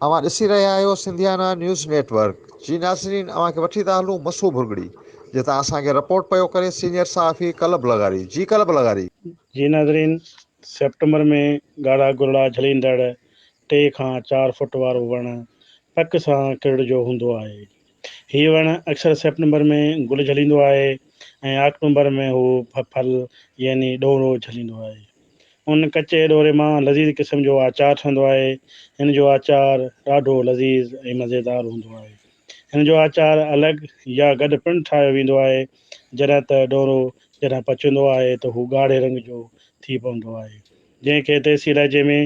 اوهان ڏسي رهيا آهيو سنڌيانا نيوز نيٽ ورڪ جي ناظرين اوهان کي وٺي ٿا هلون مسو ڀرڳڙي جتان اسان کي رپورٽ پيو ڪري سينيئر صحافي قلب لغاري جي قلب لغاري. جي ناظرين سيپٽمبر ۾ ڳاڙها گرڙا جهليندڙ ٽي کان چار فوٽ وارو وڻ پڪ سان ڪرڙجو هوندو آهي. هي وڻ اڪثر سيپٽمبر ۾ گل جهليندو آهي ۽ آڪٽومبر ۾ هو ڦل يعني ڏورو جهليندو آهي. ان ڪچي ڏوري مان لذيذ قسم جو آچار ٺهندو آهي. هن جو آچار ڏاڍو لذيذ ۽ مزيدار هوندو آهي. هن جو آچار الڳ يا گڏ پڻ ٺاهيو ويندو آهي. جڏهن ته ڏورو جڏهن پچندو آهي ته هو ڳاڙهي رنگ جو ٿي پوندو آهي. جنهن کي ديسي لهجي ۾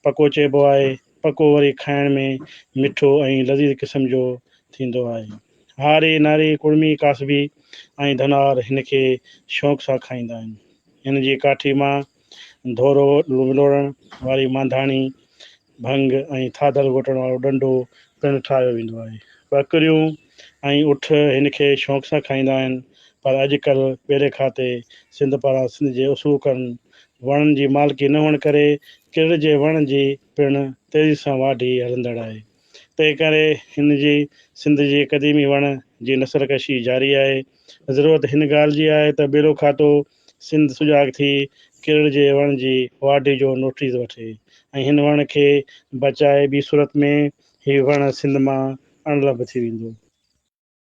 پڪو چئبو آهي. پڪو وري کائڻ ۾ مٺو ۽ لذيذ قسم جو ٿيندو آهي. هاري، ناري، ڪڙمي، ڪاسبي ۽ ڌنار هن کي شوق سان کائيندا آهن. هن جي ڪاٺي مان ڌورو ولوڙڻ واري مانڌاڻي ڀنگ ۽ ٿاڌل گهوٽڻ وارو ڏنڊو پڻ ٺاهيو ويندو آهي. ٻڪريون ۽ اٺ هن کي شوق سان کائيندا آهن پر اڄ ڪلهه ٻيلي کاتي سنڌ پاران سنڌ جي اصوڪن وڻن جي مالڪي نه هئڻ ڪري ڪرڙ جي وڻ جي پڻ تيزي سان واڍي هلندڙ آهي تنهن ڪري هن جي سنڌ جي قديمي وڻ جي نسل ڪشي جاري آهي ضرورت هن ڳالهه جي آهي ته ٻيلو کاتو سنڌ سجاڳ ٿي ڪرڙ جي وڻ جي واڍي جو نوٽيس وٺي ۽ هن وڻ کي بچائي ٻي صورت ۾ هي وڻ سنڌ مان اڻلڀ ٿي ويندو.